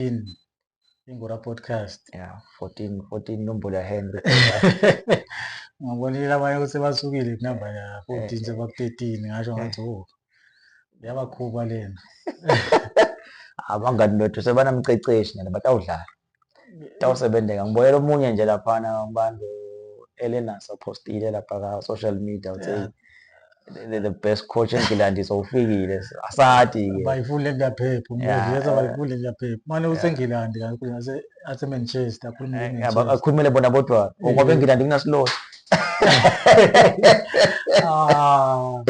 14 ingora podcast yeah 14 14 inombolo ya Henry ngabonile abanye ukuthi basukile kunamba ya 14 seba 13 ngasho ngathi oh yabakhuba lena abangani bethu sebanamceceshi nje batawudlala tawusebenzeka ngibonela omunye nje laphana abantu Elena sopostile lapha ka social media uthe the, the best coach engilandi sowufikile asati ke bayifunda engaphepha umbuzo bayifunda engaphepha manje usengilandi kakhulu ase ase Manchester akhuluma eh, ngezwe akhulumele bona bodwa ngoba eh. engilandi kunasilosi ah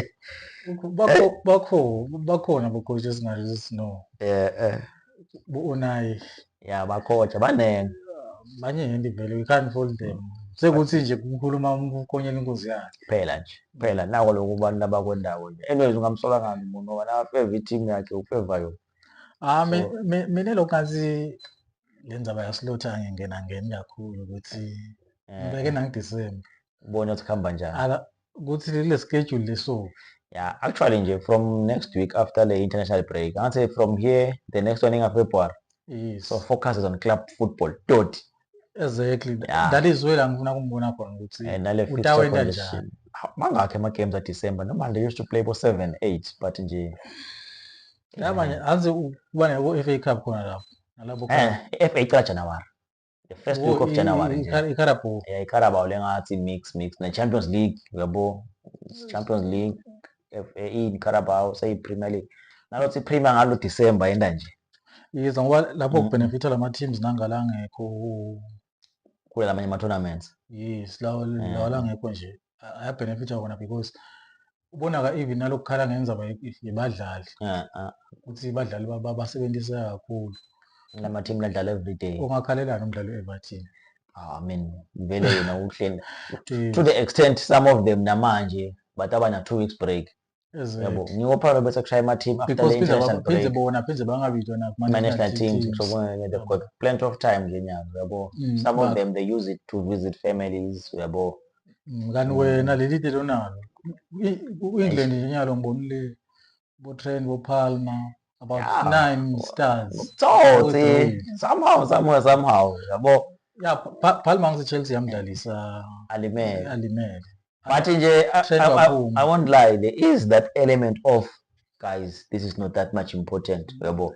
bakho bakho bakhona bocoach esingathi sino eh eh bu-Unai ya bakotsha baningi baningi vele we can't hold them sekuthi nje kukhuluma ukukonyela inkunzi yakhe phela nje phela nako lokhu abantu abakwendawo nje anyways ungamsola ngani umuntu ngoba nakafeva i-team yakhe ufeva yona ah mina lokhu ngathi le ndaba yasilotha ngingena ngeni kakhulu ukuthi eh. ngibeke nangidisemba ubone ukuthi kuhamba njani ukuthi lile schedule lesuku yeah actually nje from next week after the international break i say from here the next one inga february yes. so focuses on club football doti exactly yeah. that is where angifuna kumbona khona ukuthi eh, utawenda njani mangakhi ama-games adecember noma they used to play bo-seven eight but nje labanye aze uba nabo-f a cup khona lapho nalabo eh, i-f a icala januwari the first week of January nje iCarabao yeah iCarabao lengathi mix mix ne Champions League uyabo mm. Champions League FA iCarabao seyi Premier League nalothi Premier ngalo December yenda nje yizo ngoba lapho mm. kubenefitha lama teams nangala ngekho kule lamanye ama tournaments yes lawo lawo langekho nje ayabenefitha wona because ubona-ka even nalokukhala ngenzaba yebadlali ukuthi badlali basebenzisa kakhulu la mathimu ladlala everyday ungakhalelani umdlalo we-everton ah, I mean vele yena uhleli to the extent some of them namanje but abana two weeks break yabo ngiwo phara bese kushaya ama team after the international break because bona pheze bangabizwa na kuma national teams so when they've got plenty of time nje nyanga yabo mm, some of them they use it to visit families yabo ngani mm, mm. wena leli dilo nalo u-england nje nyalo ngibonile bo-trend bo-palmer about yeah. nine stars utsotsi somehow somewhere somehow yabo ya Palma ngiseChelsea yamdlalisa alimele alimele but nje I, I, I won't lie there is that element of guys this is not that much important yabo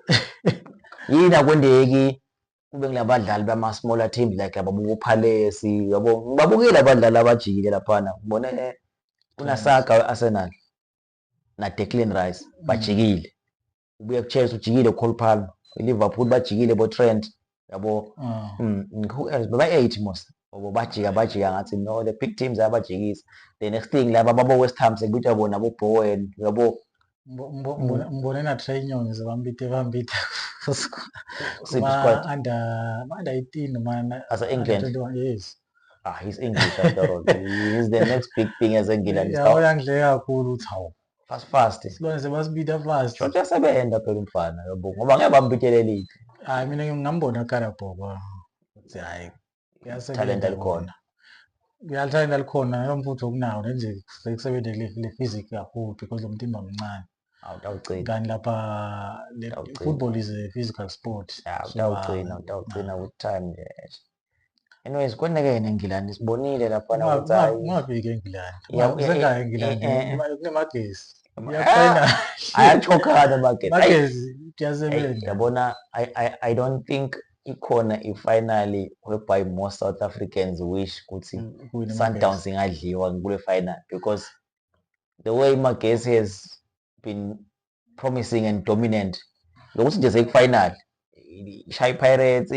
yini akwendeki kube ngilabadlali bama smaller teams like ababuka uPhalace yabo ngibabukile abadlali abajikile laphana ngibone eh, kunasaga weArsenal na Declan Rice mm. bajikile ubuye kuChelsea ujikile Cole Palmer iLiverpool bajikile bo Trent yabo ah. mm, ba 8 mos obo bajika bajika ngathi no the big teams ayabajikisa the next thing laba babo West Ham sekubitwa bona bo Bowen yabo mbone na Trey Nyoni zabambite bambite siphi squad under under 18 man asa England yes ah his english after all is the next big thing as engila uyangidleka kakhulu uthi hawu fast fast silwane sebasibida fast short yasebenza phela umfana yabo ngoba ngeke bambitele lithi hayi mina ngingambona karabhoko ukuthi hayi talent alikhona uyalithanda likhona yomfutho okunawo nje sekusebenze le physic kakhulu because lo mtimba mncane awutawugcina kanti lapha football is a physical sport utawugcina utawugcina with time nje anyways koneke yena engilandi sibonile lapho na ukuthi hayi ungabiki engilandi uzenga engilandi kunemagesi ayachokhana magesi kuyasebenza yabona i don't think ikhona ifinally whereby more south africans wish ukuthi mm, sundowns ingadliwa kule final because the way magesi has been promising and dominant lokuthi nje sekufinal shay pirates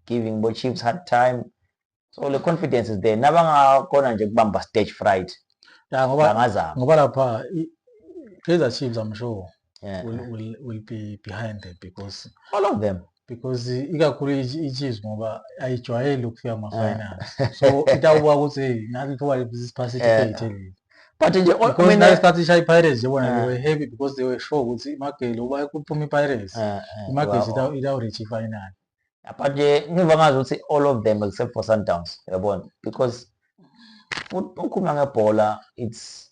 giving bo chiefs hard time so le confidence is there nabangakhona nje kubamba stage fright ya ngoba bangazama ngoba lapha kaizer chiefs i'm sure yeah. will, will, will be behind them because all of them because ikakhulu iChiefs ngoba ayijwayele ukufika kuma-final eh. so itawuba ukuthi hey nathi ithuba lesiphasi isikhethe eh. leli but nje because nasikhathi ishaya i-pirates nje bona they eh. were happy because they were sure ukuthi imagele uba kuphuma i-pirates imagesi itawuricha ifinali but nje ngiva ngazi ukuthi all of them except for sundowns yabona because ukhuluma ngebhola it's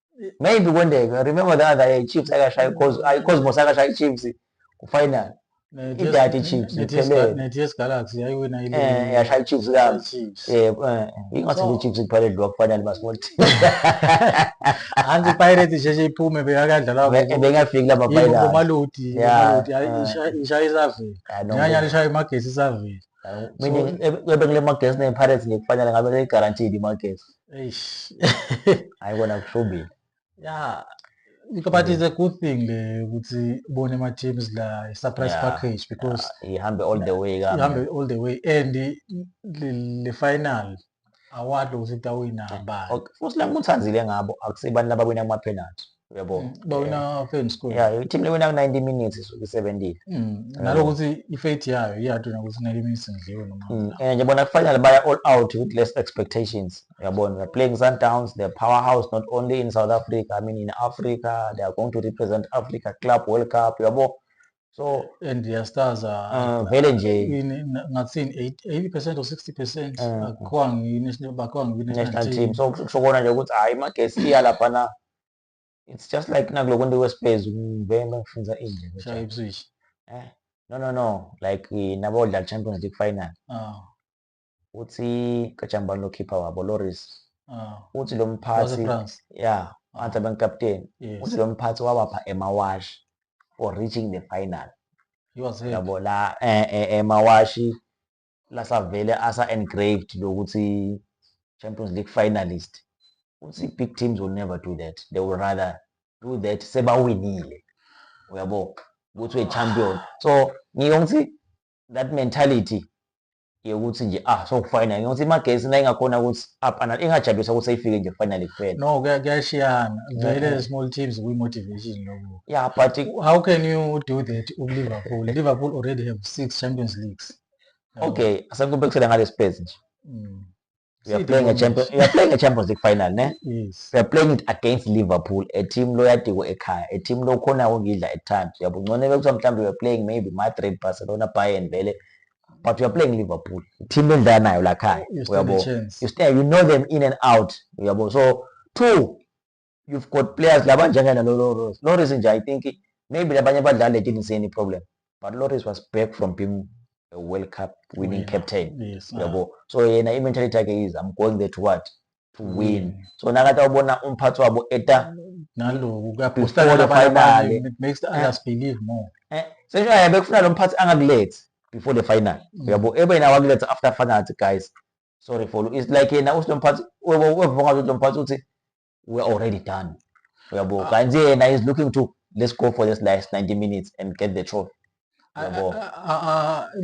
maybe kondeka I remember the other year Chiefs akashaya iCos- ah, iCosmos akashaya iChiefs ku-final idati iChiefs iphelele neTS Galaxy yayiwina ile eh yashaya iChiefs kabi Chiefs. eh eh, ingathi So- iChiefs kuphela idliwa kufanele basmall team anti iPirates isheshe iphume bekakadlala Be- bengafiki lama final umaludi Yeah, umaludi ayi, yeah. isha- ishaya isavile Ah, no, nyanya no. lishaya imagesi isavile meaning ebengile magesi nePirates ngekufanele ngabe leyigarantile imagesi eish hayi kona kushubile ya but it's a good thing le ukuthi ubone ama teams la i surprise yeah. package because yeah. ihambe all the way kahle ihambe all the way and le final award ukuthi tawina ngabani okay futhi la nguthanzile ngabo akusibantu abawina ama penalty uyabo mm, bawina eh, fame school yeah team lewina ku 90 minutes isuke isebentile mm, naloko ukuthi ifate yayo iyathu nokuthi 90 minutes ngidliwe noma mm, and nje bona kufanele baya all out with less expectations uyabona they're playing Sundowns they're powerhouse not only in South Africa I mean in Africa they are going to represent Africa Club World Cup uyabo so and yastars ah, vele nje ngathini 80 percent or 60 percent ah. akhiwa ngiyinakhiwa ngiyinational team so kusho kona nje ukuthi hhayi magesi iya lapha na it's just like nakuloko nto kwespez ngive bengifunza indlela shaya ipswish eh no no no like nabodlala champions league final oh. uthi kajambani lo khipha wabo loris ah. uthi lo mphathi ya anti ah. benkapteni uthi lo mphathi wawapha emawashi for reaching the final yabo la eh, eh, emawashi lasavele asa engraved lokuthi champions league finalist uthi big teams will never do that they will rather do that sebawinile uyabo ukuthi we-champion so ngiyongithi that mentality yokuthi nje ah so final ngokuthi imagesi la ingakhona ukuthi up and ingajabulisa ukuthi ayifike nje finally kuphela no kuyashiyana vele small teams kwi motivation lokho yeah but how can you do that u Liverpool Liverpool already have 6 Champions Leagues okay asengikubekisela ngale space nje mm. we are Siphi playing a moments? champion we are playing a champions league final ne yes we are playing it against liverpool a team loyadiko ekhaya a team lokhona ukuyidla at times uyabo ngcone bekuthiwa mhlawumbe we are playing maybe madrid barcelona bayern vele but we are playing liverpool team lendlala nayo lakhaya you stand a uyabo chance you stay you know them in and out uyabo so two you've got players laba njengena loloris loris nje i think maybe labanye abadlali they didn't see any problem but loris was back from being a world cup winning yeah. captain yes, yabo yeah. so yena i-mentality yakhe is i'm going there to what to mm. win so nakathi awubona umphathi wabo eta naloku kuyabhustaanext others eh. believe more eh, sesho yabe kufuna lo mphathi angakulethi before the final mm. yabo ebe yena wakuletha after final guys sorry for it's like yena uthi lomphathi wevonga ukuthi lomphathi uthi we're already done uyabo ah. kanti yena is looking to let's go for this last 90 minutes and get the trophy uyabo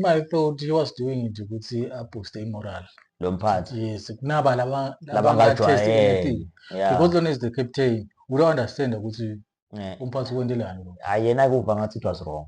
my thought he was doing it ukuthi abooste imoral lomphathi yes kunaba laba labangajwayele because lona is the captain we don't understand ukuthi eh. umphathi kwentelani lo ayena kuva ngathi it was wrong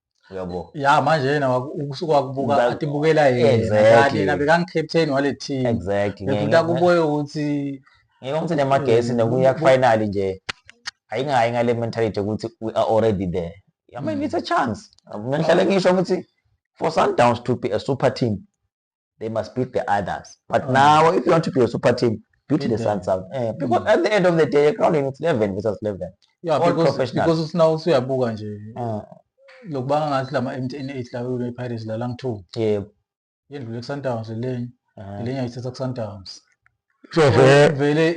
uyabo ya manje yena ukusuka wakubuka atibukela yena bekangi-captain wale team exactly bekuthi akuboye ukuthi ngeke ukuthi nemagesi nokuya kufinali nje ayingayi ngale mentality ukuthi we are already there i mean it's a chance mina ngihlale ngisho ukuthi for sundowns to be a super team they must beat the others but mm. now if you want to be a super team beat the Suns out eh, mm. because mm. at the end of the day egroundini it's 11 versus 11 yeah, all because, professional because usina usuyabuka nje uh, lokubanga ngathi lama MTN 8 lawo le Pirates la lang 2 yebo yendlule ku Sundowns lenye ah. lenye ayithatha ku Sundowns so vele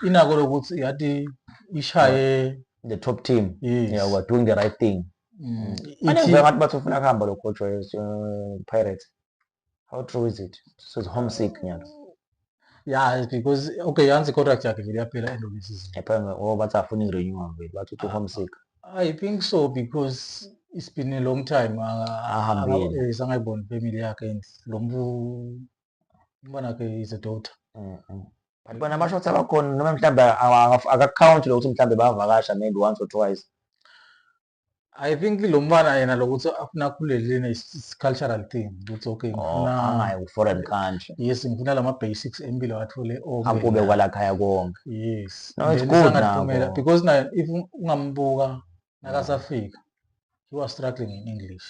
inako lokuthi yathi ishaye the top team yes. yeah we're doing the right thing mm. mm. anengibe ngathi bathi ufuna kuhamba lo coach we uh, Pirates how true is it so it's homesick nyalo yeah because okay yanzi contract yakhe vele yaphela end of the season ephanga oh bathi afuna i-renew vele bathi uthi homesick i think so because it's been a long time ahambile sangayiboni family yakhe and lo mntu umntwana wakhe is a daughter mm, mm. but bona abashothi abakhona noma mhlawumbe akakhawunti lokuthi mhlawumbe bavakasha maybe once or twice I think lo mfana yena lokuthi afuna akhuleleni is cultural thing ukuthi okay oh, ngifuna angayi ku foreign country yes ngifuna lama basics empilo athole okay akube kwala khaya konke yes no it's good now because na if ungambuka nakasafika he was struggling in english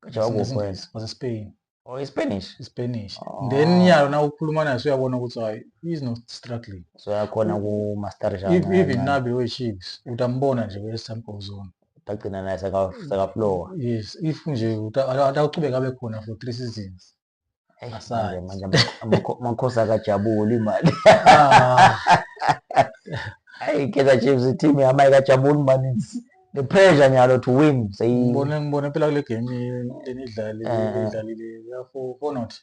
njengoba was in spain or ispanish ispanish oh. then nyalo na ukukhuluma naye suyabona ukuthi hayi is not struggling so yakhona ku master jana if even nabe we chiefs utambona nje we sample zone utagcina naye saka saka flow yes if nje utaqhubeka abe khona for 3 seasons asale manje amakhosi akajabuli imali ah. hayi keza chiefs team yama ikajabuli maninzi the pressure nyalo to win seyi ngibone ngibone phela kule game lenidlali eh, eh. idlalile ya for for not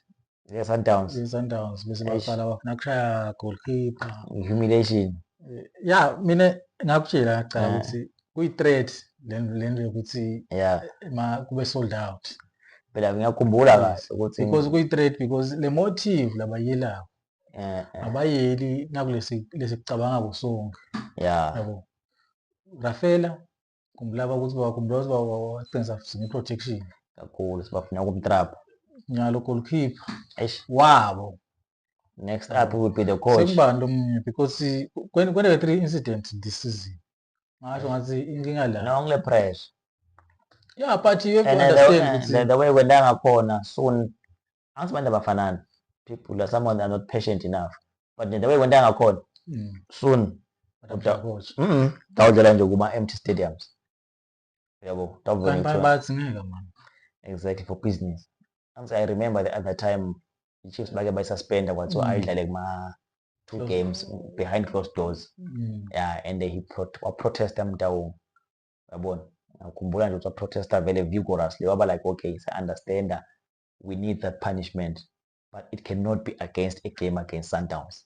yes sundowns yes sundowns bese baqala bafuna kushaya goalkeeper humiliation eh, ya mina ngakutshela cha ukuthi kuyi threat lento yokuthi yeah ma kube sold out phela ngiyakhumbula kahle ukuthi because kuyi threat because le motive labayelayo eh, eh. abayeli nakulesi lesi kucabanga kusonke ya yabo Rafela kumbulaba ukuthi bakhumbula ukuthi baba waqinisa futhi ngeprotection kakhulu sibafuna kumtrap nyalo goalkeeper eish wabo next up would be the coach sekubani lo munye because kwendeke three incidents this season ngasho ngathi inkinga la no ngile pressure yeah but you have to and the, understand ukuthi the, the way kwenda ngakhona soon angithi abantu abafanani people are someone are not patient enough but nje the way kwenta ngakhona mm. soon tawudlala nje kuma-empty stadiums yabo tawubathi ngeke mani exactly for business angithi i remember the other time i-chiefs bake bayisuspenda kwathiwa mm. ayidlale kuma-two games behind closed doors mm. yeah and he waprotesta mtawung yabona ngikhumbula nje ukuthi waprotesta vele vigorously waba like okay sa-understanda we need that punishment but it cannot be against a game against Sundowns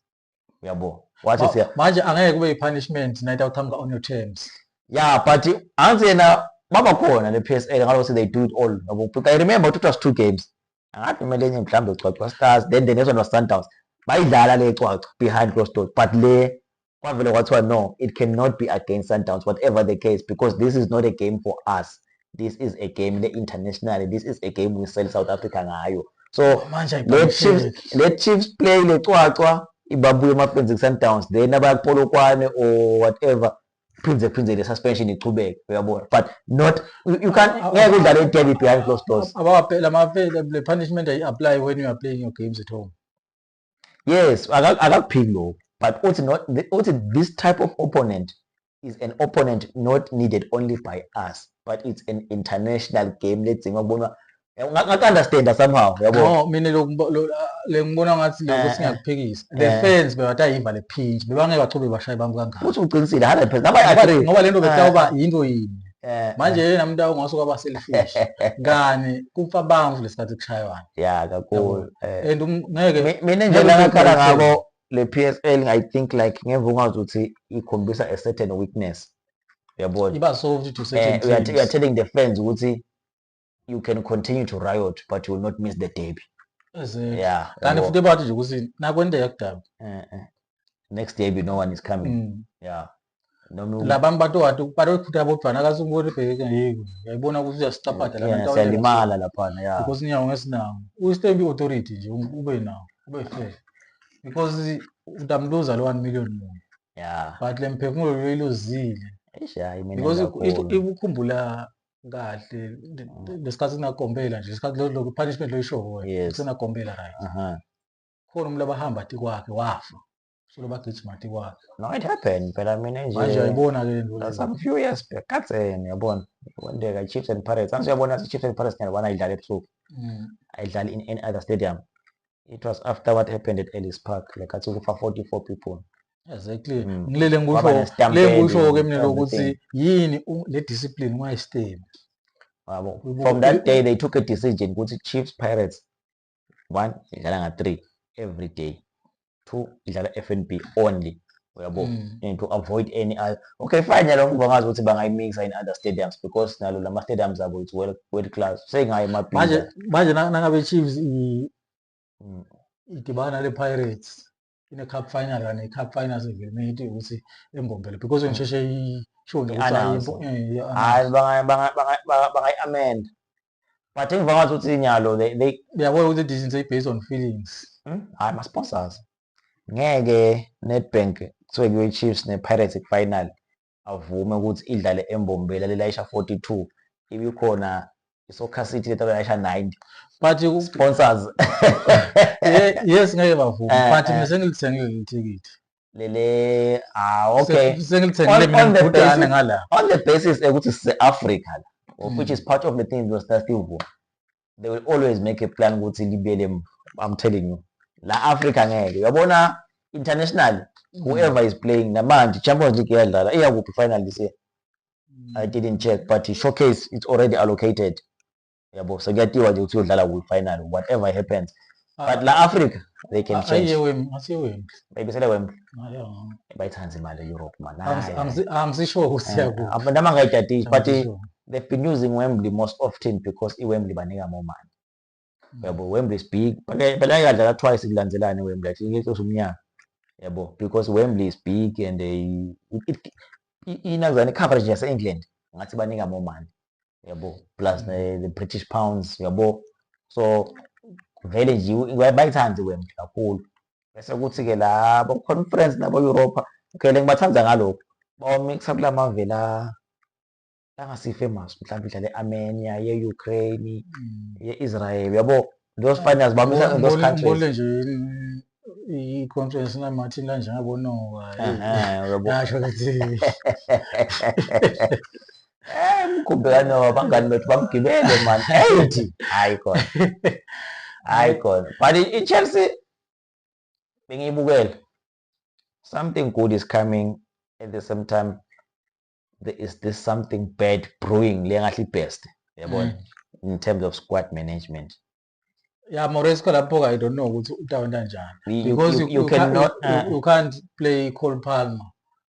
uyabo wathi siya manje angeke kube i-punishment night outhamka on your terms yeah but anzi yena baba khona le PSL ngalo say they do it all yabo because i remember it was two games angathi kumele enye mhlawumbe ucwacwa stars then the next one was Sundowns bayidlala le cwaca behind closed doors but le Kwavele kwathiwa no, it can not be against Sundowns whatever the case because this is not a game for us. This is a game le international. This is a game we sell South Africa ngayo. So oh, manje le Chiefs le Chiefs play le cwacwa ibabuye emafenzi kuSundowns then abayakupolokwane or whatever phindze phindze le suspension ichubeke uyabona but not you can ngeke udlale i-derby behind closed doors abawaphela amavele le punishment ayi apply when you are playing your games at home yes akakuphiki lokhu but uthi not uthi this type of opponent is an opponent not needed only by us but it's an international game ledzinga kubonwa ngaku-understanda somehow yabo no mina lengibona ngathi lokho eh, singakuphikisa eh, the eh. fans bebatayiva le phinji bebangeke bachube bashaye bami kangaka futhi uqinisile 100 ngoba le nto bekutawuba yinto yini Eh, manje eh. yena muntu awungase kwaba selfish ngani kufa bamvu lesikhathi kushaywana ya kakhulu eh. and um, ngeke mina nje ngakhala ngabo le PSL i think like ngemva ungazi ukuthi ikhombisa a certain weakness yabona iba soft to certain things we are telling the fans ukuthi you can continue to riot but you will not miss the derby yeah kanti futhi bathi nje ukuthi nakwendeka kudabi eh, eh. next derby no one is coming mm. yeah labami batowati batoyiphutha bodvana kasingoti bheke yiko yayibona ukuthi uyasicaphatha labayalimala laphana ya because ninyawo ngesinawo uyistendi authority nje um, ube nawo ube fair because utamluza lo 1 million munye yeah but le mphefumulo loyiluzile because ikukhumbula kahle lesikhathi sinakombela nje isikhathi lo lo punishment lo ishowo wena Yes. sinakombela right Aha. khona umuntu abahamba ati kwakhe wafa so lobagijima ati kwakhe No, it happened. Phela mina manje nje uyayibona ke lento leyo. some few years back kadzeni yabona. Kwenteka Chiefs and Pirates. Angithi uyabona ukuthi Chiefs and Pirates ngiyabona ayidlali ebusuku. Mm. Ayidlali in any other stadium. It was after what happened at Ellis Park. Like athi kufa 44 people. exactly mm. ngilele ngisho le ngisho ke mina lokuthi yini le discipline ungayistem yabo from that day they took a decision ukuthi Chiefs Pirates one idlala nga 3 every day two idlala FNB only uyabo mm. and to avoid any other okay fine yalo ngibangazi ukuthi bangayimixa in other stadiums because nalo lama stadiums abo it's well well class sengaye mabhiza manje manje nangabe Chiefs mm. idibana le Pirates ine-cup final kanye i-cup final sevilmate ukuthi embombele because mm. ngisheshe isho nje ukuthi hayi bangayi-amenda but engiva ngathi ukuthi inyalo uyabona ukuthi i-decision seyi-based on feelings hmm? hayi ma-sponsors ngeke nedbank kuthiwe kuyo-chiefs ne-pirates final avume ukuthi idlale eMbombela lelayisha 42 ibikhona iSoccer City le talayisha 90 but sponsors yes ngeke bavume eh, but eh. mina sengilithengile ithikithi lele ah okay sengilithengile mina ngibhudane ngala on the basis ukuthi sise Africa la which is part of the thing we are still vume they will always make a plan ukuthi libele emuva i'm telling you la africa ngeke uyabona international mm. whoever is playing namanje champions league iyadlala iyakuphi final this year mm. i didn't check but showcase it's already allocated yabo sekuyatiwa nje ukuthi uyodlala kwi-final whatever happens but la africa they can change ayiye wembi asiye wembi bayibisele wembi bayithanda imali europe man angisisho ukuthi siyakuba eh, noma ngayidadile but they've been using wembley most often because iwembley banika more money mm. yabo wembley is big phela ikadlala twice kulandelane wembley athi ngeke usumnyaka yabo because wembley is big and they inazani coverage yase england ngathi banika more money yabo plus mm. ne, the british pounds yabo so vele nje bayithandi wemntu kakhulu bese kuthi-ke la bakuconference nabo-europa ngele ngibathanda ngalokhu bawamixa kula mave la angasi-famous mhlawumbe idlala e-armenia ye-ukraine mm. ye-israel yabo those finals bamisa in those countries ngibone nje i-conference namathi kanje ngabonoka yasho ukuthi eh mkhumbe kanoba bangani bethu bamgibele man ethi hayi khona hayi khona but i-chelsea bengiyibukele something good is coming at the same time there is this something bad brewing le ngahle ibest yabona mm. in terms of squad management ya Moresco lapho ka i don't know ukuthi utawenta njani because you, you, you, you cannot you, uh, you can't play Cole Palmer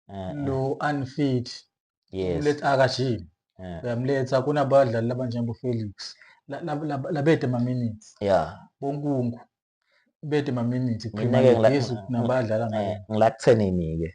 uh, uh. no unfit yes uletha akajimi uh. uyamletha kunabadlali labanjengo Felix labede ma minutes yeah bonkungu bede ma minutes mina ke ngilakuthenini ke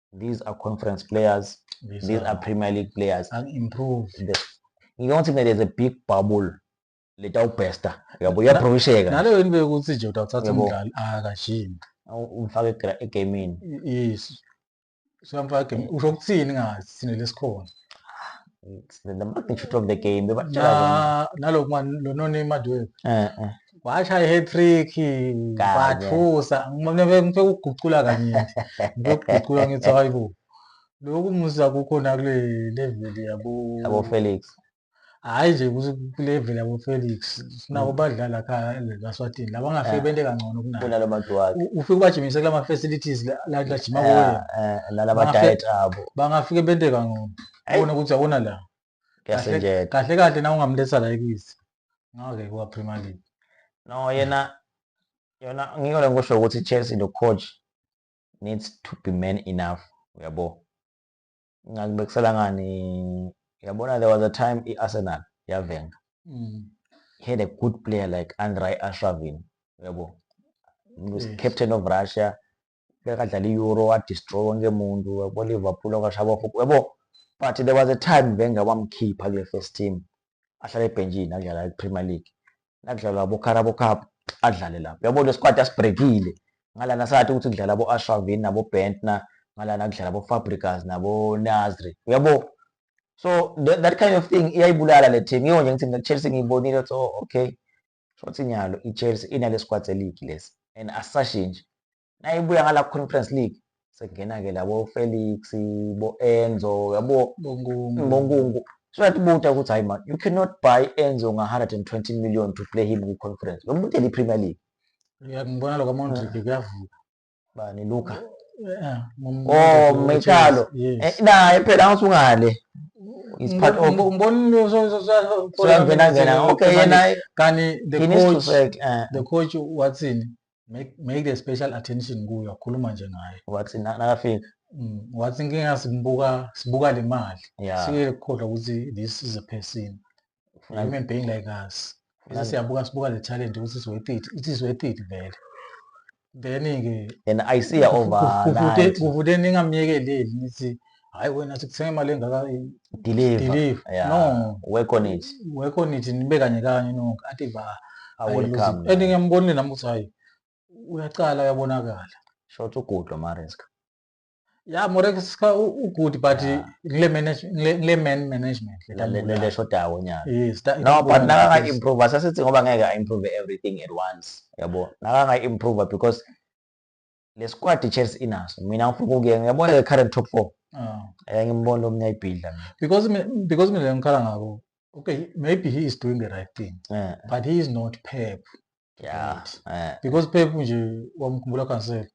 these are conference players these, these are, are premier league players unimprove ngike ngithi mina there's a big bubble letawubhesta yabo uyaphrovisheka naleyo yini bekuthi nje utawuthatha umdlali akashimi ah, umfake egamini yes siyamfaka egamini usho ukuthini ngathi thina lesikhona the magnitude of the game bebatshela naloku mani lononimadi wethu eh, eh. washaya i-hat-trick wathusa ngifike ukugucula kanye ngikugucula ngithi hayi bo lokhu musa kukhona kule level yabo yabo Felix hayi nje kulevel yabo Felix sinabo mm. badlala kha laSwatini laba ngafike eh. bente kangcono kunayo kunalo maduwakhe ufike ubajimise kulama facilities la la jima kuwe eh, eh, nalaba diet abo bangafike bente kangcono ubona ukuthi awona la kuyasenjeda kahle kahle na ungamletha la ekisi ngake kuwa Premier League no yena yona ngiko lengisho ukuthi Chelsea lo coach needs to be man enough uyabo ngakubekisela ngani yabona there was a time i-arsenal yavenga mm. he had a good player like andrei ashravin uyabo mm. yes. captain of russia bekadlala i-euro wadestroy wonke umuntu yabo liverpool okwashaba ofuku yabo but there was a time wenger wamkhipha kule first team ahlale ebhentshini adlala i-premier league nakudlalwa bocarabo cup adlale lapho yabo le squad asibrekile ngalana sathi ukuthi kudlala bo-ashravin nabo-bentner ngalana kudlala bo-fabricas nabo-nasri uyabo so that, that kind of thing iyayibulala le team yiyo nje ngithi chelsea ngiyibonile so okay Shothi nyalo iChelsea inale squad seligi lesi and asisashintshi. Nayibuya ngala Conference League sekungena-ke labo Felix, bo Enzo, yabo Bongungu. So that buta ukuthi hayi man, you cannot buy Enzo nga 120 million to play him ku Conference. Lo muntu eli Premier League. Ngibona lokho Mondrick kuyavuka. bani Luka eh, oh Mechalo eh, naye phela angisungale is part of umbonile usangena ngena okay yena kani the coach eh. the coach wathini make make the special attention kuyo akhuluma nje ngaye wathi nakafika mm, wathi inkinga sibuka sibuka le mali sikekhohlwa ukuthi this is a person Ufuna Human being like us. Bese Nani? siyabuka sibuka le talent ukuthi it's worth it. It is worth it vele. Then-ke and I see her over overnight. kuvude ningamyekeleli nithi hayi wena sikuthenga imali engaka Deliver. deliver. Yeah. No. Work on it. Work on it nibe kanye kanye no athi ba. I will come. And nami. ngiyambonile nami ukuthi hayi uyaqala uyabonakala. Short ugudlo Mariska. ya morekisa ugood but ngile ngile man management le shodawo nyaka yes no but nakanga improve asasithi ngoba ngeke a improve everything at once yabo nakanga improve because le squad Chelsea inaso mina ngifuna ukuya ngiyabona le current top 4 ah. eh ngimbona omnye ayibhidla because because mina ngikhala ngabo okay maybe he is doing the right thing yeah. but he is not pep yeah, yeah. because pep nje wamkhumbula kansela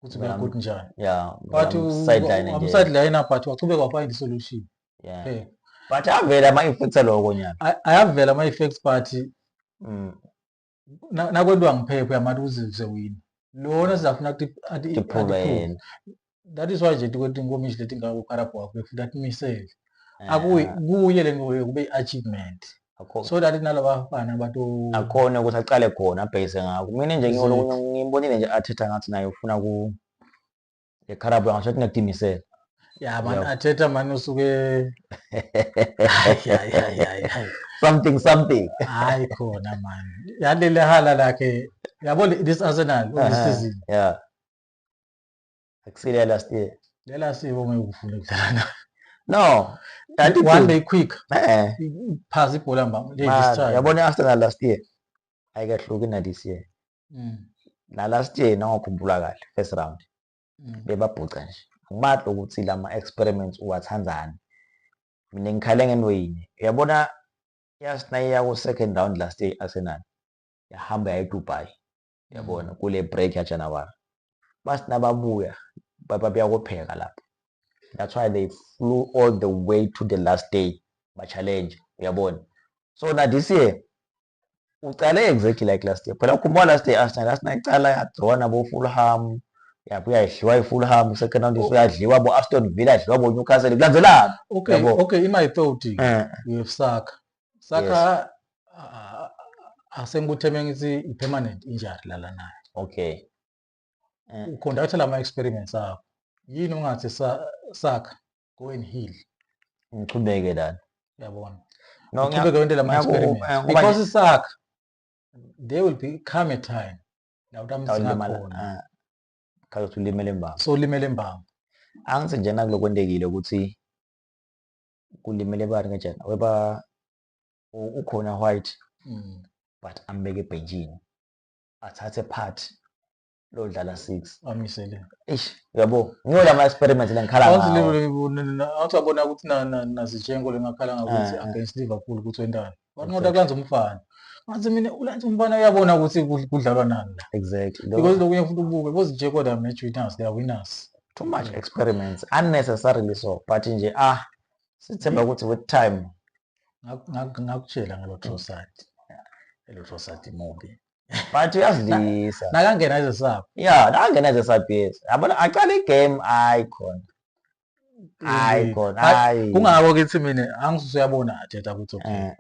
ukuthi Uya- kuyakuthi njani yeah but sideline nje amsideline but wachubeka wafind isolution yeah Eh, but avela ama effects aloko nyaka ay- ayavela ama effects but mm na- nakwentiwa ngiphephe yamati uzizwe wini lona sizafuna ukuthi ati- to prove ati-prove. yena that is why nje tikwetinkomishi letingako carabhwa kwethu that misele Eh, akuyi eh. kuye le ngoyo kube i-achievement so that nalabafana bato akhona ukuthi aqale khona abhekise ngakho mina nje ngimbonile nje athetha ngathi naye ufuna ku ekharabu angasho ukuthi ngiyakutimisela ya man athetha mani usuke something something hayi khona mani yalele hala lakhe yabo this arsenal unesizini yeah akusile ya last year lela siko ngeke ufune ukudlala nayo no kanti one one day quick eh phaza ibhola mba lady man, style yabona i-arsenal last year ayikahluki na this year Mm, na last year nangokhumbula kahle first round mm. bebabhuca nje angibathi ukuthi lama experiments uwathandani mina ngikhale ngento yinye uyabona yasinayiya ku second round last year i-arsenal yahamba yaye dubai yabona kule break ya January basi nababuya bayakopheka lapho that's why they flew all the way to the last day ba challenge uyabona so na this year ucale exactly like last year phela ukhumula last year Arsenal Arsenal icala yadrona bo Fulham yabuya idliwa iFulham second round oh. yadliwa bo Aston Villa idliwa bo Newcastle kulandzelana okay okay in my thought eh. you have saka saka yes. uh, asengikuthe mengithi i-permanent injury lala nayo okay eh. uconducte lama experiments akho yini ungathi saka go and heal ngiqhubeke lana yabona no ngiqhubeke wente lama experiments eh, because isaka there will be come a time la utamsinakhona ah, khaze ulimele mbamba so ulimele mbamba angithi njena kulokwendekile ukuthi kulimele bani ngejana weba ukhona white mm. but ambeke ebhenjini athathe part lodlala 6 amisele eish yabo ngiyo lama experiment lengikhala ngawo awuthi liverpool awuthi abona ukuthi na na nazitshenko lengakhala ngakuthi eh, eh. against liverpool ukuthi wentana wanqoda kulanza umfana manje mina ulanza umfana uyabona ukuthi kudlalwa nani la exactly because lokunye futhi ubuke bozi nje kodwa match winners they are winners too much experiments unnecessarily so but nje ah sithemba ukuthi with time ngakutshela ngalo Trossard elo Trossard movie but uyazidlisa nakangena ezesaphi ya nakangena ezesaphi yes yabona aqala igame hayi khona hayi khona hayi kungako kithi mina angisuse yabona thetha ukuthi okay eh.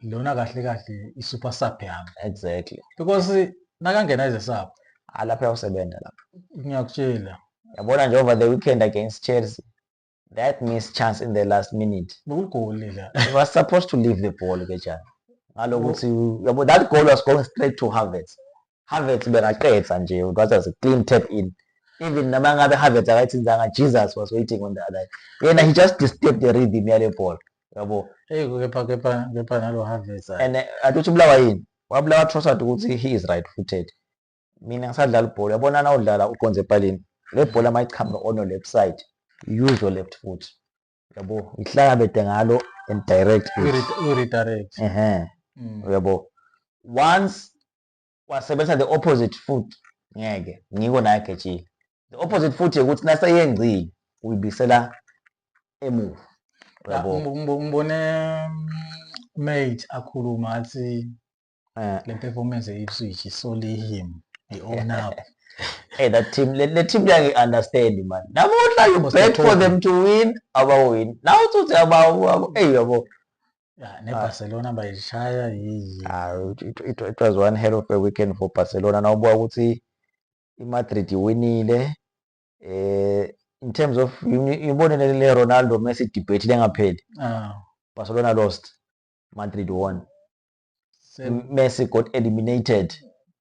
lona kahle kahle i super sub yami exactly because nakangena ize sub alapha usebenza lapha ngiyakutshela yabona nje over the weekend against Chelsea that missed chance in the last minute ngokugoli la he was supposed to leave the ball ke jana ngalokuthi yabo that goal was going straight to Havertz Havertz bekaqedza nje it was a clean tap in even noma ngabe Havertz akayithinzanga Jesus was waiting on the other yena he just disturbed the rhythm yale ball yabo hey kepha kepha kepha nalo Havertz and eh, athuthi ubulawa yini wabulawa Trossard ukuthi he is right footed mina ngisadlala ibhola yabona na udlala uqonze epalini le bhola mayichama ono left side use your left foot yabo ngihlangabede ngalo and direct redirect ehe mm. yabo once wasebenzisa the opposite foot ngeke ngiko naye agejile the opposite foot ukuthi naseyengcile uyibisela emuva yabo ngibone mm, mate akhuluma athi Eh. le performance ye-ipswich isolihim i-onap Hey, that team, le, le team yangi understand man. Namuhla you Must bet for them to win, abawin. Now uthi abawu, abawu, hey yabo. Ya, Ah. nebarcelona bayishaya yiyi Ah, it, it, it, it was one hell of a weekend for Barcelona. Nawubuka ukuthi iMadrid iwinile. Eh, in terms of ibone le Ronaldo Messi debate lengapheli. Ah, Barcelona lost, Madrid won. Messi got eliminated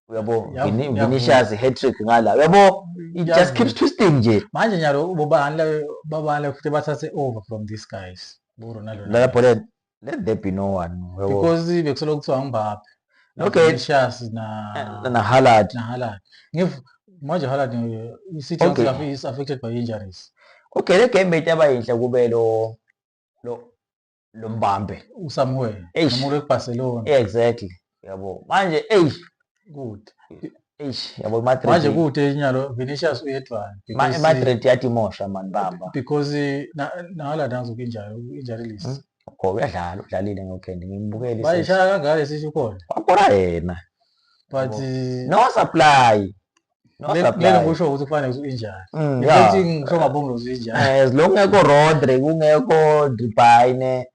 uyabo Vinicius hat-trick ngala uyabo it just keeps twisting nje manje nyalo bobani la babani futhi bathathe over from these guys bo Ronaldo la bhola let there be no one because bekusolo kuthiwa ngibaphi okay Vinicius na eh, na Haaland na Haaland ngif manje Haaland eh, isithi okay. is affected by injuries okay le game beyitaba yinhle kube lo lo lo mbambe usamuel Eish. umuntu wekubarcelona exactly yabo manje eyi good eish yabo manje imadrid kude nyalo vinicius uyedwana Ma- because- imadrid yatimosha mani bamba because eh, na- nala nazo kinjalo injalo list Mm. kho uyadlala udlalile ngokhendi ngimbukele isisi. bayishaya kangaka sisho khona wakora yena but Yabo. eh, no supply lelo kusho ukuthi kufanele ukuthi injani mm, ukuthi ngisho ngabonga ukuthi injani eh, as long kungekho rodri kungekho dribayne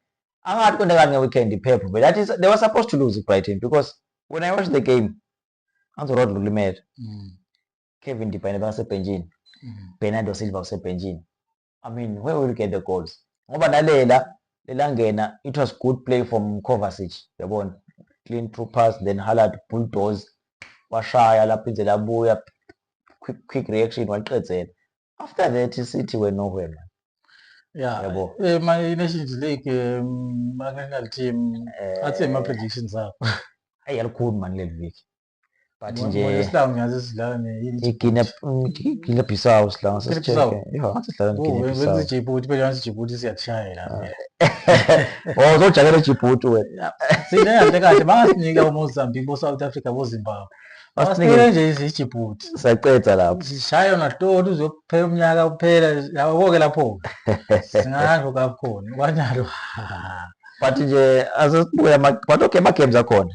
angathi konke kanye weekend iphepho but that is they were supposed to lose brighton because when i watched the game anzo rodri ulimele mm. kevin dribayne bengasebhenjini mm. bernardo silva usebhenjini I mean where will get the goals ngoba nalela lelangena it was good play from Kovacic yabona clean through pass then Haaland bulldoze washaya lapho inze labuya quick quick reaction waqedzela after that City were nowhere man yeah yabo eh my nations league um, national team eh, athi ama predictions akho ayi alikhulu man leli viki but nje isilanga ngiyazi sidlala ne Guinea Guinea Bissau isilanga sesijeke yho sidlala ne Guinea Bissau wenza iJibuti phela wenza iJibuti siyatshayela oh uzojakela iJibuti wena sine kahle kahle bangasinika uMozambique bo South Africa bo Zimbabwe Basinike nje iJibuti siyaqeda lapho sishaya yona hloli uzophela umnyaka uphela yabo ke lapho singasho kakhona kwanjalo but nje asesibuya but okay ama games akhona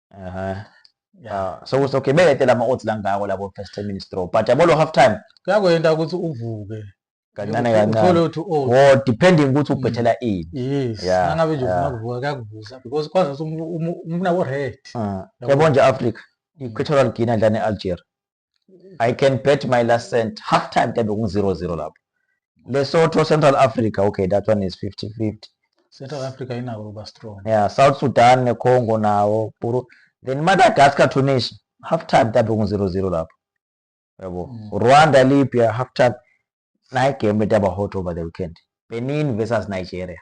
Ehhe. Yeah. Ah, so okay beletela ama odds langako labo first 10 minutes draw. But yabo lo half time Kuyakwenta ukuthi uvuke. kancane Uthole kancane. ukuthi oh. Or depending ukuthi ubhethela ini. Yes. Yeah, Nangabe nje yeah. ufuna kuvuka kuyakuvusa because kwazi ukuthi umu- umu- umfuna wo red. Ah, Yabo. Yabo nje Africa. I-Equatorial Guinea dlala ne-Algeria. I can bet my last cent half time kade kungu 0 0 lapho Lesotho Central Africa okay that one is 50 50 Central Africa inako kuba strong yeah South Sudan ne Congo nawo buru then Madagascar Tunisia half time kade kungu 0 0 lapho yabo mm. Rwanda Libya half time nayi game etaba hot over the weekend Benin versus Nigeria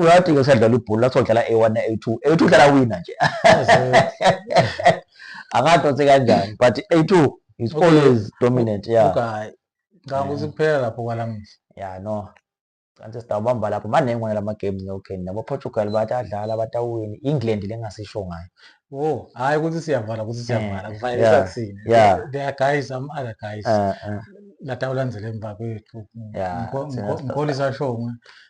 uyathi ke usadlala ibhola kuthiwa udlala a-one a-two a-two udlala wina nje angadonse kanjani but a-two is okay. always dominant ya yeah. okay. ngicabanga ukuthi kuphela lapho kwalamuhla ya no kanti sitawubamba lapho maningi wona lama games nokeni nabo Portugal bathi adlala batawuwini England lengasisho ngayo oh hayi ukuthi siyavala ukuthi siyavala eh, kufanele sakusini yeah they are guys am other guys eh, eh. latawulandzela emva kwethu ngikholisa shongwe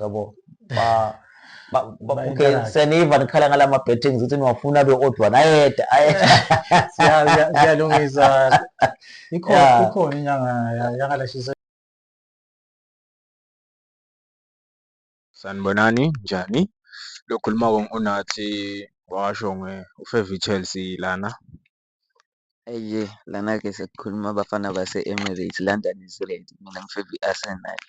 yabo ba seniva nikhala ngala ma-bettings ukuthi niwafuna abe odwa nayeda siyalungisa ikhona inyanga yangalashisa sanibonani njani lokhuluma unathi washo nge-ufevi chelsea lana Eyi lana-ke sekukhuluma abafana base-Emirates, London is red mina ngifeva i-Arsenal.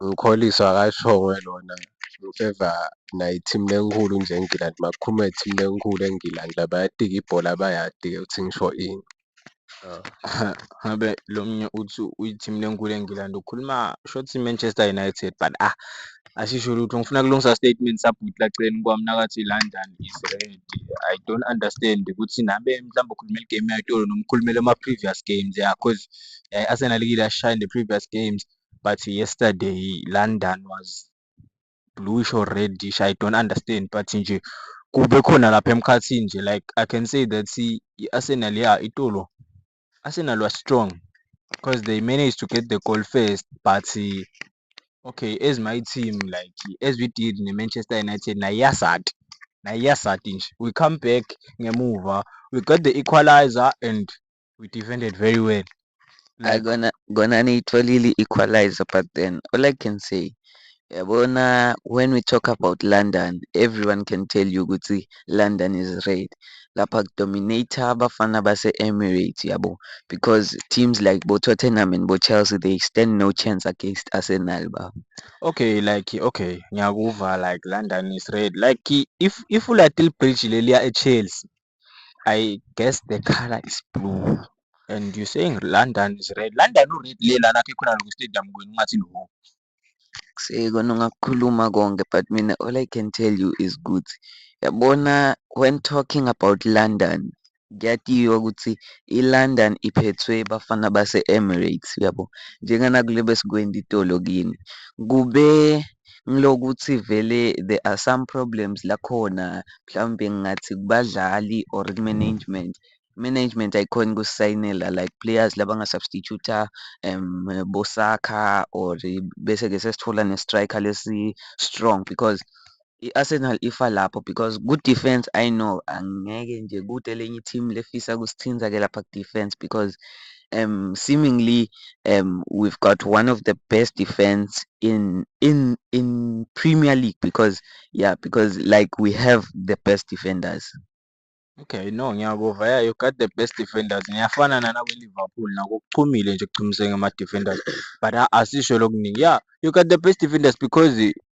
Mkholiso akasho-ke lona ngifeva nayo i-team lenkhulu nje eNgilandi makukhuluma nge-team lenkhulu eNgilandi la bayadika ibhola bayadi-ke ukuthi ngisho ini. ngabe lo mnye uthi uyi-team lenkulu engilandi ukhuluma shothi i-Manchester United but ah asisho lutho ngifuna kulungisa statement sabhuti laceni kwami nakathi London is red I don't understand ukuthi nabe mhlawumbe ukhulumela igame yayitolo noma ukhulumela ama-previous games ya cause eh, Arsenal kile yashaya in the previous games but yesterday London was bluish or reddish I don't understand but nje kube khona lapha emkhathini nje like I can say that i-Arsenal ya itolo Arsenal was strong because they managed to get the goal first but okay as my team like as we did ne-Manchester United nayo iyasati nayo iyasati nje we come back ngemuva we got the equalizer and we defended very well Hayi like kona kona niyitholile i-equaliser but then all I can say yabona when we talk about London everyone can tell you ukuthi London is red lapha kudominate abafana base-Emirates yabo because teams like bo-Tottenham and bo-Chelsea they stand no chance against Arsenal baba. okay like okay ngiyakuva like london is red like i- if ifulati libridge leliya echelsea I guess the color is blue and you saying London is red. London u-red le lana khe khona lokhu stadium kwenu ungathi loko. Sekona ungakukhuluma konke but mina all I can tell you is ukuthi yabona when talking about London kuyatiywa ukuthi i-London iphethwe Bafana Base-Emirates uyabo njengana kule besikwendi itolo kini kube ngilokuthi vele there are some problems la khona mhlawumbe ngingathi kubadlali or ku-management. I-management ayikhoni ukusisayinela like players laba nga-substitute-a boSaka or bese-ke sesithola ne-striker lesi-strong because i-Arsenal ifa lapho because ku-defence I know angeke nje kude elinye i-team lifisa kusithinta-ke lapha ku-defence because. um, seemingly um, we've got one of the best defense in in in Premier League because yeah because like we have the best defenders. Okay, no ngiyakuva yeah you got the best defenders ngiyafana nana kwi-Liverpool nako kuchumile nje kuchumiseke ama-defenders but asisho lokuningi yeah you got the best defenders because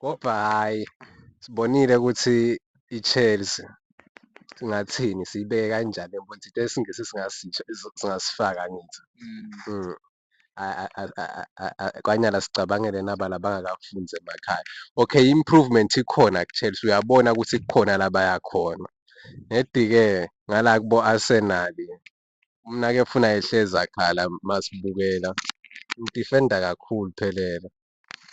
Kodwa hhayi sibonile ukuthi i-Chelsea singathini siyibeke kanjani le mfundisi into yesingisi singasifaka angithi. KwaNyala sicabangele naba la bangakakufunzi emakhaya. Okay i-improvement ikhona ku-Chelsea uyabona ukuthi kukhona la baya khona. Nedi-ke ngala kubo-Arsenal umnakefuna ehlezi akhala masibukela, udifenda kakhulu Phelela.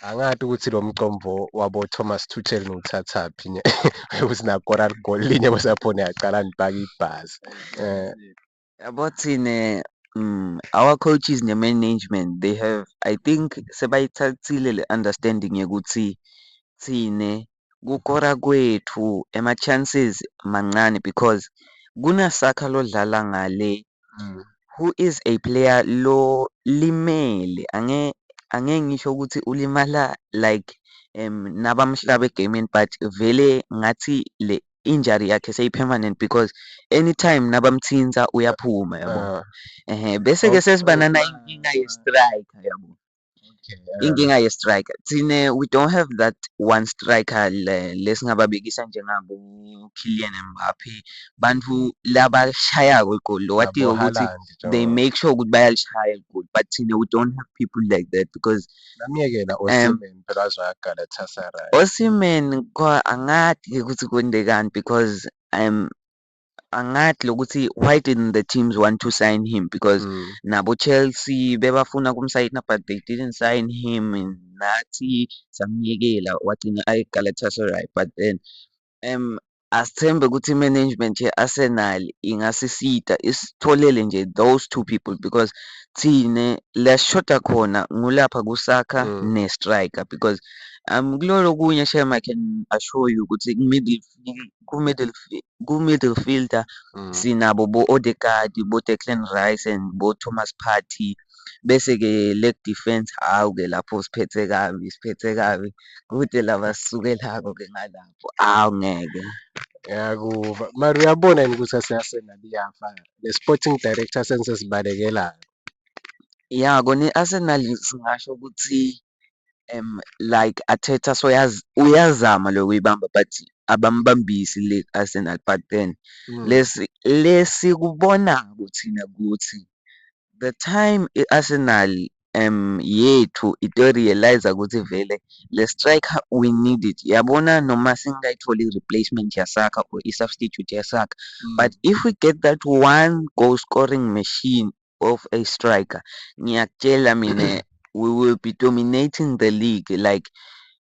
Angazi ukuthi lo mcombo wabo-Thomas Tuchel ngiwuthathaphi nje ukuthi nakora ligoli linye kwesaphone yaqala ngibhaka ibhazi. Eh. Yabo thina mm, our coaches ne-management they have I think sebayithathile le understanding yokuthi thina kukora kwethu ama chances mancane because kuna Saka lodlala ngale who is a player lo limele ange ange ngisho ukuthi ulimala like um nabamhlaba egamini but vele ngathi le injury yakhe seyi permanent because anytime nabamthinta uyaphuma yabo ehe bese ke sesibana nayinkinga ye striker yabo. inkinga ye-striker thina we don't have that one striker lesingababekisa njengabo-Kylian Mbappe bantu labashayako igoli lo watiyo ukuthi they make sure ukuthi bayalishaya igoli but thina we don't have people like that because namyekela um, osimen phela azoyagalatasaray osimen angathi-ke ukuthi kwendekani because um angathi lokuthi why didn't the teams want to sign him because mm. nabo Chelsea bebafuna kumsayina but they didn't sign him nathi samyekela wagcina ayi Galatasaray but then um asithembe ukuthi management ye-Arsenal ingasisita isitholele nje those two people because thina la sishoda khona ngulapha kusakha mm. ne-striker because um kulolo kunye shem I can assure you ukuthi middle ku-middle fielder sinabo bo-Odegaard, bo-Declan Rice and bo-Thomas Partey. Bese-ke leg defence, hhawu-ke lapho siphethe kabi, siphethe kabi. Kude la abasisukelako-ke ngalapho, awu ngeke. Ngiyakuva. Mara uyabona yini ukuthi aseArsenal iyafa ne-sporting director senisesibalekelayo? Ya, kona i-Arsenal singasho ukuthi like Arteta uyazama lo kuyibamba but abambambisi le Arsenal but then lesi le sikubona kuthina kuthi the time i-Arsenal yethu ito-realise-a ukuthi vele le striker we need it. Yabona noma singayitholi i-replacement yasakha or i-substitute yasakha but if we get that one goal scoring machine of a striker ngiyakutshela mina we will be dominating the league like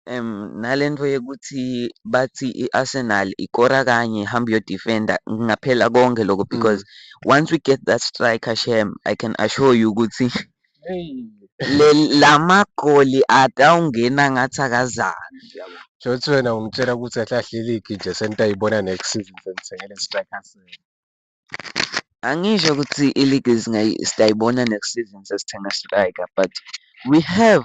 um nalento yokuthi bathi i-Arsenal ikora kanye hamba uyodefenda ngaphela konke lokho mm. because mm. once we get that striker shem I can assure you ukuthi le lamagoli atawungena ngathi akazali Jothi wena ungitshela ukuthi ahlahle iligi nje sentayibona next season sengithengele striker senu. Angisho ukuthi iligi siyayibona next season sesithenga striker but we have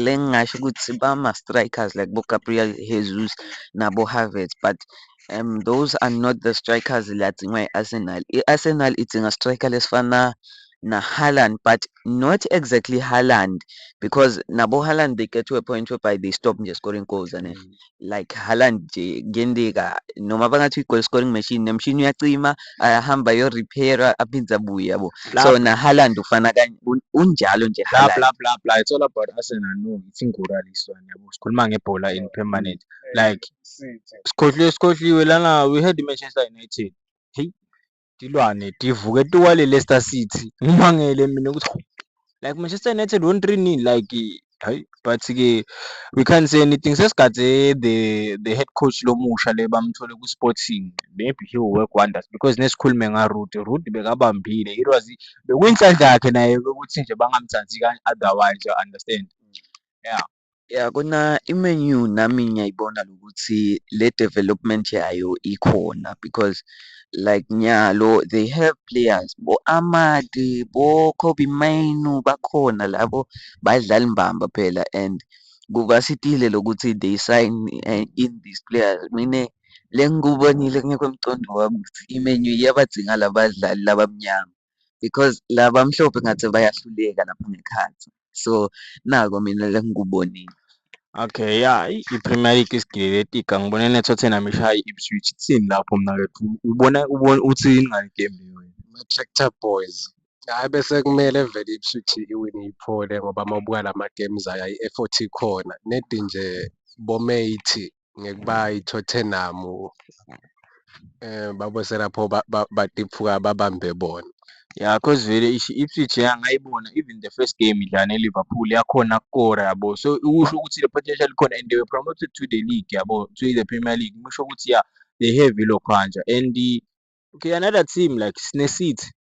le engingasho ukuthi bama-strikers like boGabriel Jesus naboHavertz but um those are not the strikers le adingwa i-Arsenal. I-Arsenal idinga striker lesifana naHaaland but not exactly Haaland because naboHaaland they get to a point whereby they stop nje scoring goals and mm. like Haaland nje kuyenteka noma bangathi i-goal scoring machine nemshini uyacima ayahamba ayorepaira aphinde abuye yabo so naHaaland ufana kanye unjalo nje bla bla bla bla it's all about Arsenal no it's ingura leswana yabo sikhuluma ngebhola in permanent like sikhohliwe sikhohliwe lana we had Manchester United hey Tilwane tivuke tiwale Leicester City. Ngimangele mina ukuthi like Manchester United won 3 nil like hayi but ke we can't say anything sesigade the the head coach lomusha le bamthole ku Sporting maybe he will work wonders because nesikhulume nga Ruud Ruud bekabambile it was bekuyinhlanhla yakhe naye ukuthi nje bangamthathi kanye otherwise you understand yeah Ya kona i-Man U nami ngiyayibona ukuthi le development yayo ikhona because like nyalo they have players bo-Amade, bo-Kobbie Mainoo bakhona labo badlali mbamba phela and kuvasitile lokuthi they sign in these players. Mina le engikubonile kungekho emqondo wami ukuthi i-Man U iyabadinga la badlali laba abamnyama. because la bamhlophe ngathi bayahluleka lapha ngekhathi so nako mina lengikubonile Okay, ya i-Premier League isigile letika ngibona neTottenham ishaya i-Ipswich kuthini lapho mna ke ubona ubona uthini ngale game leyo wena? Ama-tractor boys hhayi bese kumele vele i-Ipswich iwine iphole ngoba uma ubuka la ma-games ayo ayi-effort ikhona nedi nje bomeythi ngekuba iTottenham babosela pho batiphuka babambe bona. Ya cause vele i-Ipswich yangayibona even the first game idlala ne-Liverpool yakhona kukora yabo. So usho ukuthi le potential ikhona and they were promoted to the league yabo, to the Premier League. Kusho ukuthi ya they have ilokhanja and okay another team like sineCity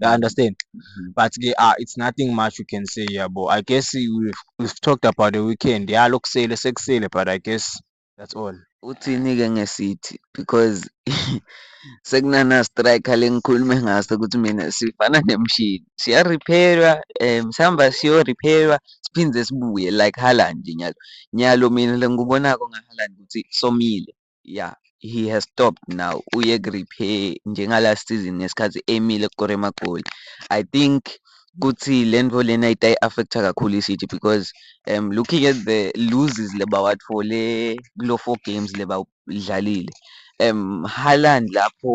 You mm. understand? Mm-hmm. But they are, it's nothing much we can say, yeah, but I guess we've, we've talked about the weekend. Yeah, look, say, let's say, but I guess that's all. Uthini ke ngesithi because sekunana striker lengikhulume ngaso ukuthi mina sifana nemshini siya repairwa um sihamba siyo repairwa siphinde sibuye like Haaland nyalo nyalo mina lengikubonako ngaHaaland ukuthi somile ya he has stopped now uye ku-repair njengalast season ngesikhathi emile kukora emagoli i think kuthi le nto lena itayi-affecta kakhulu i-city because um looking at the loses lebawathole kulo four games lebawudlalile um haland lapho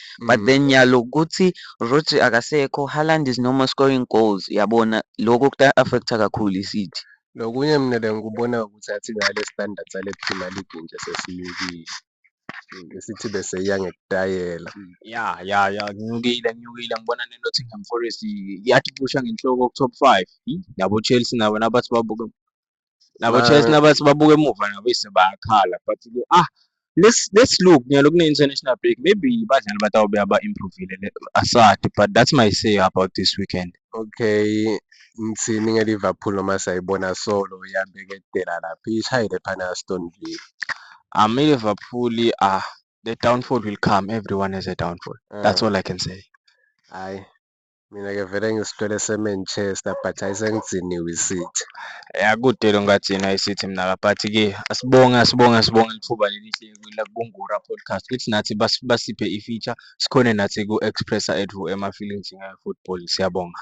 but mm. then yalo kuthi Rodri akasekho Haaland is no more scoring goals yabona lokho kuta affecta kakhulu iCity nokunye mina bengikubona ukuthi athi ngale standard sale Premier League nje sesiyukile isithi bese iya ngekutayela mm, ya ya ya nginyukile nginyukile ngibona neNottingham Forest yathi kusha ngenhloko ku-top five yabo-Chelsea nabo nabathi babuke nabo chess nabathi babuke emuva nabo ise bayakhala but ke ah let's let's look nyalo kune international break maybe badlali batawube aba improvile asad but that's my say about this weekend okay ngithini nge-liverpool noma sayibona solo iyambeketela lapho ishayile phana aston villa um i-liverpool ah the downfall will come everyone has a downfall that's ah. all i can say hayi Mina ke vele ngisilwele seManchester but hayi sengidiniwe iCity. Ya kude lo ngathina iCity mina ka but ke asibonge asibonge asibonge lithuba lelihle la kuNgura podcast. Ithi nathi bas- basiphe i-feature sikhone nathi ku-expressa ethu ama-feelings nge-football. Siyabonga.